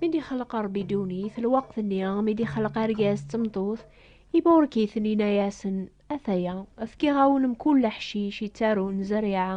mi d-ixleq Ṛebbi ddunit lweqt-nni mi d-ixleq argaz d tmeṭṭut iburek-iten yenna-yasen ataya fkiɣ-awen mkul leḥcic yettarun zerriɛa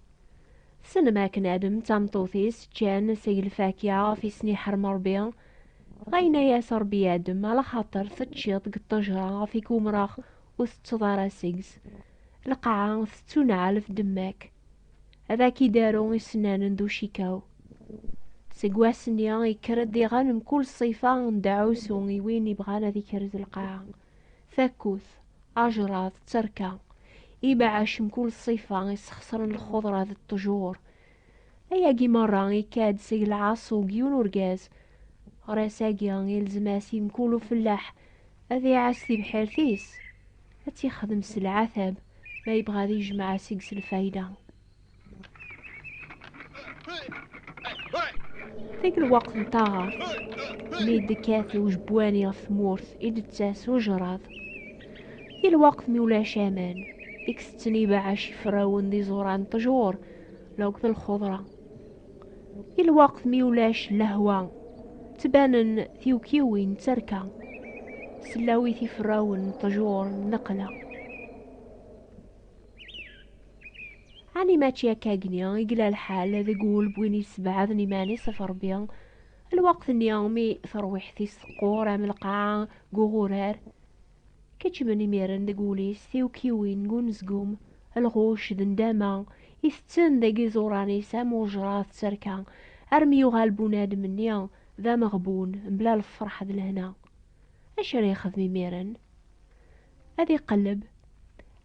Tessnem akken Adam d tameṭṭut-is ččan seg lfakya ɣef i sen-iḥrem Ṛebbi. Ɣayen-as Ṛebbi i Adam, ala xaṭer teččiḍ deg ṭṭejṛa ɣef i k-umṛeɣ, ur teţţeḍ ara seg-s. Lqaɛa tettuneɛɛel ɣef ddemma-k. Ad ak-idaru isennanen d ucikaw. Seg wass-nni, yekker-ed diɣen mkul ṣṣifa n deɛɛusu i win ibɣan ad ikrez lqaɛa. Takut, ajṛad, d terka, ibeɛɛac mkul ṣṣifa isxeṣren lxuḍra d ṭṭjur. Ayagi meṛṛa ikka-d seg lɛaṣu n yiwen urgaz. Ɣer ass-agi ilzem-as i mkul ufellaḥ ad iɛass tibḥirt-is, ad tt-ixdem s lɛatab ma yebɣa ad ijmeɛ seg-s lfayda. Deg lweqt n taɣart, mi d-tekkat ujbwani ɣef tmurt, i d-tettas ujrad. Di lweqt mi ulac aman, i isetten ibeɛɛac iferrawen d iẓuran n ṭjur neɣ d lxeḍra. Di lweqt mi ulac lehwa, ttbanen tiwekkiwin d terka, sellawit iferrawen n ṭjur n lqela. Ɛni mačči akkagni i yella lḥal deg wul n win yessebɛaden iman-is ɣef Ṛebbi, lweqt-nni mi tarwiḥt-is teqqur am lqaɛa deg uɣurar? Keččmen imiren deg wul-is tiwekkiwin n unezgum, lɣucc d ndama, itetten deg iẓuran-is am wejṛad d terka, armi yuɣal bunadem-nni d ameɣbun, mebla lfeṛḥ d lehna. Acu ara yexdem imiren? ad iqelleb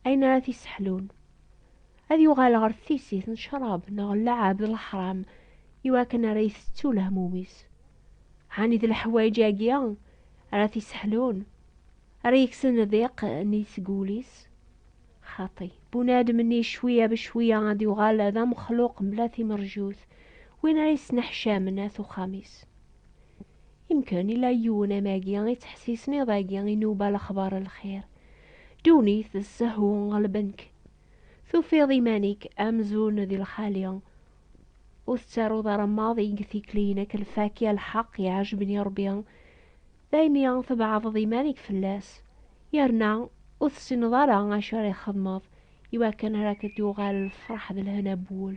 ayen ara t-isseḥlun ad yuɣal ɣer tisit n ccrab neɣ llɛab d leḥram iwakken ara itettu lehmum-is ɛni d leḥwayeǧ-agi ara t-isseḥlun ara yeksen diq nni seg wul-is xaṭi bunadem-nni cwiya becwiya ad yuɣal d amexluq mebla timerjut win ara yesneḥcamen at uxxam-is Imkan ila yiwen amagi i ttḥessisen iḍ-agi i nuba lexbar n lxir. Ddunit d ssehwu ɣelben-k. Tufiḍ iman-ik amzun d lxali. Ur tettaruḍ ara maḍi deg tikli-inek lfaki a lḥeq iɛejben i Rebbi. Daymi tbeɛdeḍ iman-ik fell-as. Yerna ur tessineḍ ara acu ara ixedmeḍ iwakken ara k-d-yuɣal lfeṛḥ d lehna n wul.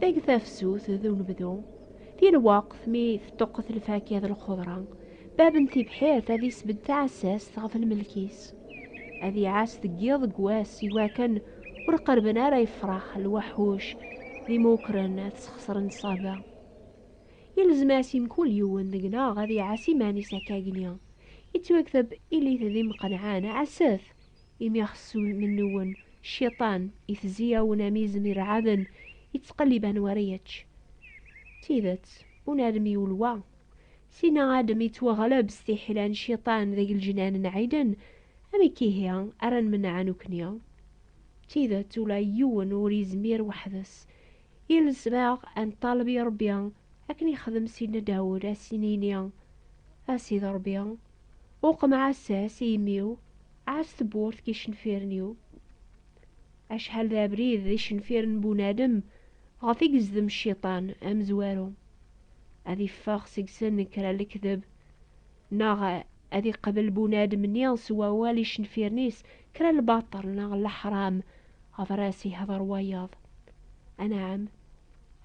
Deg tafsut d unebdu, di lweqt mi teṭṭuqqet lfakya d lxeḍra, bab n tibḥirt ad isbedd taɛessast ɣef lmelk-is. Ad iɛass deg yiḍ deg wass i wakken ur qerben ara yefrax lwaḥuc d imukren ad sxesren ṣṣaba. Yelzem-as i mkul yiwen deg-neɣ ad iɛass iman-is akkagni. Ittwakteb ilit d imqenɛen, ɛasset, imi ɣs mennuwen, Cciṭan, itezzi-awen am izem ireɛɛden, yettqellib anwa ara yečč. D tidet, ur nɛellem yiwen wa. Sina Adem yettwaɣleb s tiḥila n Cciṭan deg leǧnan n Ɛiden, amek ihi ara nmenneɛ nekkni? D tidet, ula i yiwen ur yezmir weḥd-s. I lesbaɣ, ad neṭṭaleb i Ṛebbi, akken yexdem Sidna Dawed, ad as-nini, A Sidi Ṛebbi, Uqem ɛass-as i imi-w, ɛass tewwurt n yicenfiren-iw. Acḥal d abrid d icenfiren n bunadem ɣef i yezdem cciṭan amezwaru, ad iffeɣ seg-sen kra n lekdeb, neɣ ad iqbel bunadem-nni s wawal icenfiren-is kra n lbaṭel neɣ n leḥram ɣef ara as-ihder wayeḍ. Anɛam,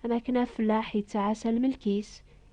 am akken afellaḥ yettɛassa lmelk-is,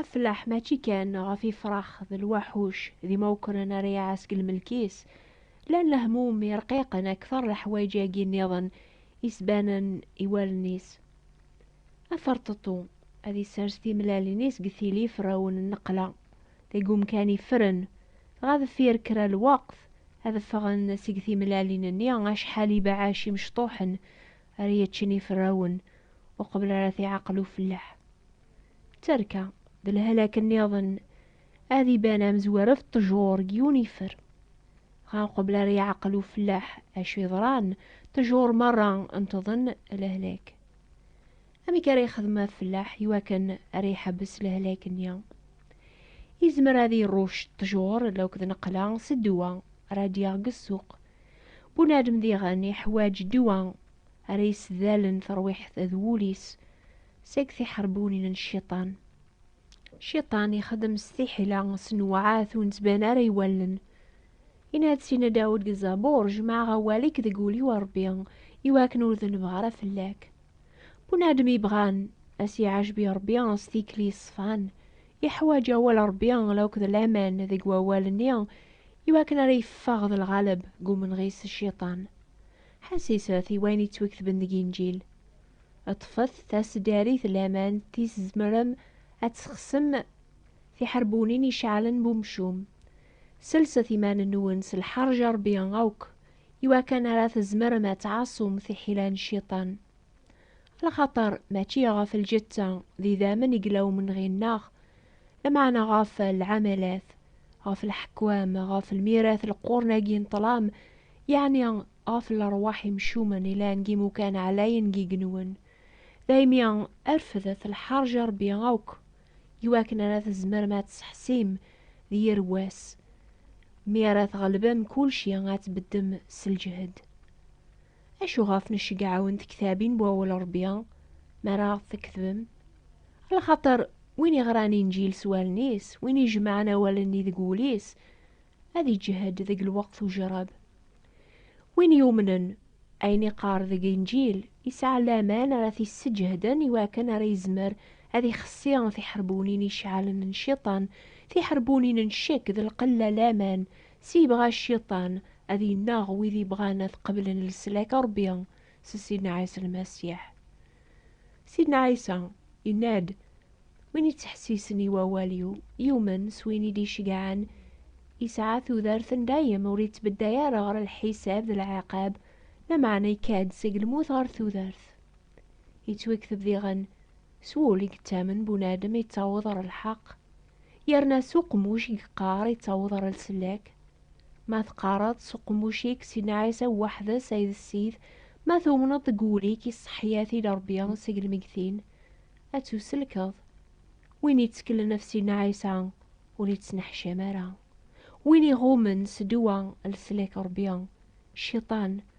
Aflaḥ mačči kan ɣef ifrax d lwaḥuc d imawkren ara iɛas deg lmelk-is, lan lehmum irqiqen akteṛ leḥwayeǧ-agi nniḍen i s-banen i wallen-is. Aferṭeṭṭu, ad isers timellalin-is deg tili iferrawen n nneqla, deg umkan iffren, dɣa deffir kra lweqt, ad ffɣen seg timellalin-nni acḥal ibeɛɛac imecṭuḥen ara yeččin iferrawen uqbel ara t-iɛaqel ufellaḥ. D tarka, d lhalak nniḍen ad iban amezwar af ṭṭjur deg yiwen yifer. Dɣa uqbel ara iɛaqel ufellaḥ acu yeḍran, ṭṭjur merra ntḍen lehlak. Amek ara yexdem afellaḥ iwakken ara iḥebbes lehlak-nni? Izmer ad irucc ṭṭjur lauked neqla s ddwa ara d-yaɣ deg ssuq Bunadem diɣen iḥwaǧ ddwa ara yessedalen terwiḥt d wul-is seg tiḥerbunin n cciṭan. Cciṭan ixeddem s tiḥila, s nnweɛat ur nettban ara i wallen. Yenna-d Sidna Dawed deg Zabur, Jemɛeɣ awal-ik deg wul-iw a Ṛebbi, i wakken ur dennbeɣ ara fell-ak. Bunadem yebɣan a s-iɛejb i Ṛebbi s tikli ṣṣfan, iḥwaǧ awal n Ṛebbi, la akked laman deg wawal-nni Iwakken ara yeffeɣ d lɣaleb deg umenɣis Cciṭan, ḥassiset i wayen yettwaketben deg Inǧil, ṭṭfet taseddarit n laman tis tzemrem ad tesxesem tiḥerbunin iceɛlen n umcum, selset iman-nwen s lḥerǧ a Rebbi akk iwakken ara tzemrem ad tɛaṣum tiḥila n Cciṭan, Lxaṭer mačči ɣef lǧetta d idammen i yella umenɣi-nneɣ, lameɛna ɣef lɛamalat, ɣef leḥkwam, ɣef lmirat n leqquren-agi n ṭṭlam, yeɛni ɣef lerwaḥ imcumen yellan deg yimukan ɛlayen n yigenwen. Daymi refdet lḥerǧ a Rebbi akk, iwakken ara tzemrem ad tseḥsim d yir wass, mi ara tɣelbem kulci, ad tbeddem s lǧehd. Acu ɣef necceggɛawen tektabin n wawal n Rebbi mi ara ɣ-t-teketbem? Lxaṭer win iɣran Inǧil s wallen-is, win ijemɛen awal-nni deg wul-is, ad iǧehhed deg lweqt ujrab. Win yumnen ayen iqqar deg Inǧil, yesɛa laman ara t-isseǧehden i wakken ara yezmer ad ixessi tiḥerbunin iceɛlen n Cciṭan, tiḥerbunin n ccek d lqella laman S yebɣa cciṭan ad yennaɣ wid yebɣan ad qeblen leslak n Rebbi s Sidna Ɛisa Lmasiḥ. Sidna Ɛisa yenna-d, Win yettḥessisen i wawal-iw, yumen s win i d-iceggɛen, yesɛa tudert n dayem, ur yettbedday ara ɣer lḥisab d lɛiqab, lameɛna yekka-d seg lmut ɣer tudert. Yettwekteb diɣen, S wul i yettamen bunadem yettaweḍ ɣer lḥeqq, yerna s uqemmuc i yeqqar yettaweḍ ɣer lsellek. Ma teqqareḍ s uqemmuc-ik Sidna Ɛisa weḥd-s ay d Ssid, ma tumneḍ deg wul-ik i ṣṣeḥḥiyat-il Rebbi seg lmeggtin, ad tusellkeḍ. Win yetteklen ɣef Sidna Ɛisa ur yettneḥcam ara. Win iɣummen s ddwa n leslak Rebbi, Cciṭan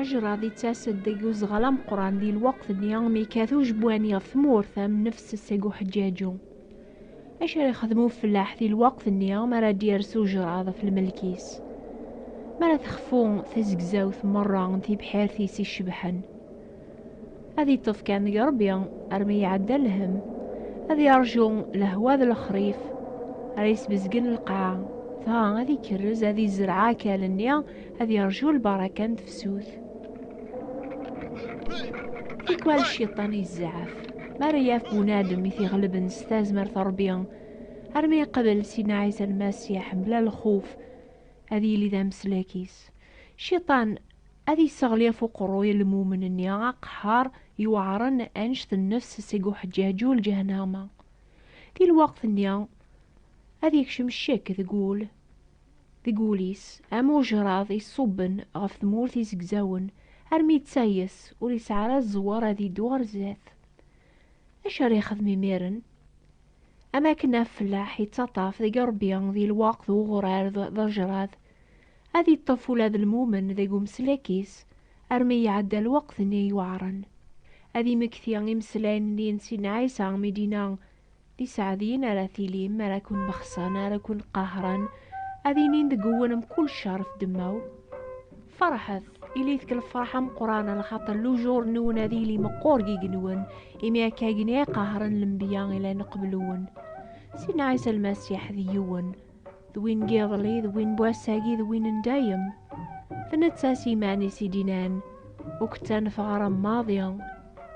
Ajrad yettas-d deg uzɣal ameqqran di lweqt-nni mi yekkat ujebwani ɣef tmurt am nnefs seg uḥeǧǧaǧu. Acu ara yexdem ufellaḥ di lweqt-nni mi ara d-yers ujrad ɣef lmelk-is? Mi ara texfu tizegzawt merra n tibḥirt-is icebḥen. ad yeṭṭef kan deg rebbi armi iɛedda lhem ad yeṛju lehwa d lexrif ara yesbezgen lqaɛa dɣa ad ikerrez ad izreɛ akal-nni ad yeṛju lbaraka n tefsut tikwal cciṭan izzeɛf mi ara yaf bunadem i t-iɣelben s tazmert n rebbi armi yeqbel sidna ɛisa lmasiḥ mebla lxuf ad yili d ameslak-is cciṭan Ad yesseɣli ɣef uqerruy n lmumen-nni aqeḥḥar yuɛren annect nnefs seg uḥeǧǧaǧu n lǧehnama. Di lweqt-nni, ad yekcem ccek deg wul, deg wul-is, am ujraḍ iṣubben ɣef tmurt izegzawen, armi yettayes, ur yesɛi ara zzwer ad yeddu ɣer zdat. Acu ara yexdem imiren? Am wakken afellaḥ yettaṭṭaf deg ṛṛbya di lweqt n uɣurar d ajraḍ, Ad iṭṭef ula d lmumen deg umeslak-is armi iɛedda lweqt-nni yuɛren. Ad imekti imeslayen-nni n Sidna Ɛisa mi d-yenna, D iseɛdiyen ara tilim mi ara ken-bexṣen, ara ken-qahṛen, ad inin deg uwen mkul cceṛ f ddemma-w, Feṛḥet, ilit k lefṛeḥ ameqqṛan, lxaṭer lujur-nwen ad yili meqqur g igenwen, imi akkagni i qahṛen lenbiya i llan qbel-wen. Sidna Ɛisa Lmasiḥ d yiwen. d win n yiḍelli d win n wass-agi d win n dayem d netta s iman-is i d-inan ur k-ttanef ɣer maḍi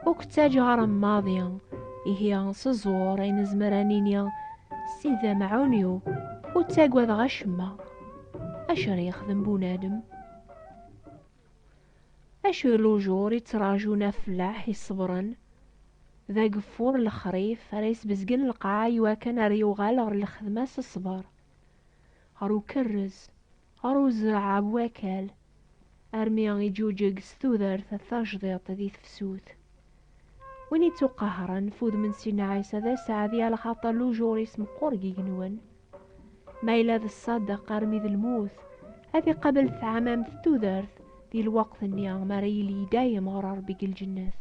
ur k-ttaǧ ɣer maḍi ihi s ẓẓur ay nezmer ad nini Ssid d amɛun-iw ur ttagadeɣ acemma acu ara yexdem bunadem Acu i lujur i ttrajun afellaḥ i ṣebren? D ageffur n lexrif ara yesbezgen lqaɛa i wakken ar yuɣal ɣer lxedma s ṣṣber, ɣer ukerrez, ɣer uzreɛ bu wakal, armi iǧuǧeg s tudert tajdiṭ di tefsut. Win ittuqahren f udem n Sina Ɛisa d aseɛdi alxaṭer lujur-is meqqur deg yigenwan. ma yella d ṣṣadeq armi d lmut ad iqabel tɛamamt tudert di lweqt-nni mi ara yili i dayem ɣer Rebbi deg lǧennet.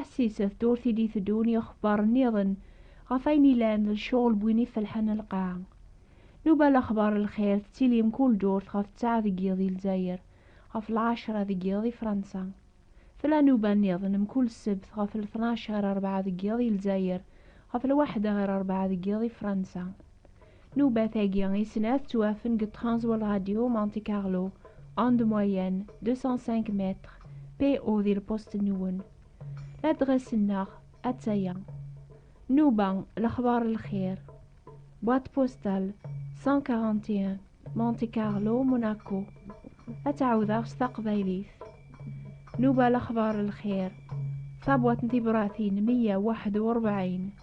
Ass-is, d tewwurt i d-iteddun yixebbar nniḍen ɣef ayen ilan d lecɣel n win ifelḥen lqaɛa. Nuba lexbar n lxir tettili mkul durt ɣef ttɛa deg yiḍ di Lezzayer, ɣef lɛecra deg yiḍ di Fransa. Tella nuba nniḍen mkul ssebt ɣef lṭnac ɣer rebɛa deg yiḍ di Lezzayer, ɣef lwaḥda ɣer rebɛa deg yiḍ di Fransa. Nubat-agi i snat ttwafen deg Transworld Radio Monte Carlo, onde moyenne 205 mètres, PO di lpusṭ-nwen. Ladres-nneɣ atta-ya. Nuba, lexbar n lxir. Boîte postale 141 Monte Carlo, Monaco. Ad tt-ɛawdeɣ s taqbaylit. Nuba, lexbar n lxir. Tabwaḍt n tibratin 141.